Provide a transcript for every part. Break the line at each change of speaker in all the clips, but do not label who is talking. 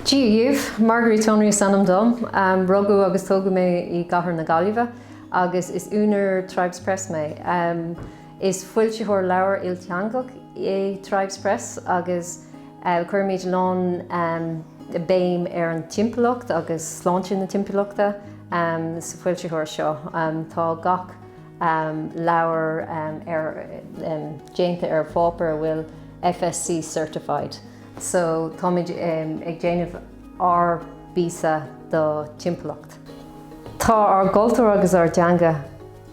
Dia daoibh, Marguerite Tonery is ainm dom. Rugadh agus tógadh mé i gCathair na Gaillimhe agus is úinéir Tribes Press mé. Is foilsitheoir leabhar ilteangach é Tribes Press agus cuirimid a lán béim ar an timpeallacht agus sláinte na timpeallachta sa fhoilsitheoir seo. Tá gach. um leabhar um ar um déanta ar pháipéar a bhfuil FSC certified so táimid um ag déanamh ár bpíosa do timpeallacht. Tá ár gcultúr agus ár dteanga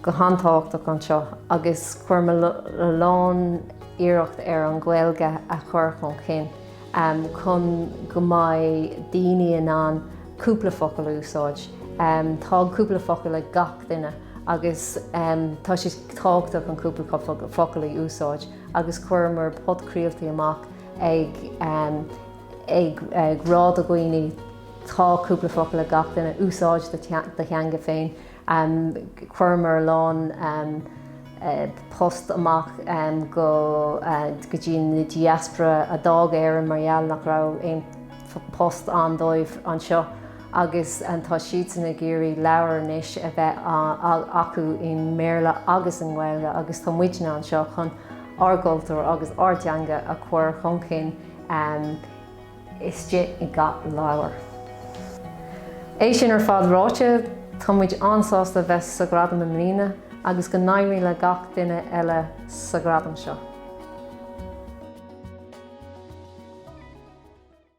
go han-tábhachtach anseo agus cuirimid a lán iarracht ar an Gaeilge a chur chun cinn. chun go mbeidh daoine in ann cúpla focal a úsáid. Tá cúpla focal ag gach duine agus tá sé tábhachtach an cúpla focal a úsáid agus chuireamar podchraoltaí amach ag rá do dhaoine tá cúpla focal ag gach duine, úsáid do theanga féin. Chuireamar a lán post amach go dtí na diaspora a d'fhág Éireann mar gheall nach raibh aon post ann dóibh anseo agus tá siadsan ag iarraidh leabhair anois a bheith acu i mBéarla agus i nGaeilge agus tá muidne anseo chun ár gcultúr agus ár dteanga a chur chun cinn. istigh i ngach leabhar. É sin ar fad ráite, tá muid an-sásta bheith sa Gradam i mbliana agus go n-éirí le gach duine eile sa Gradam seo.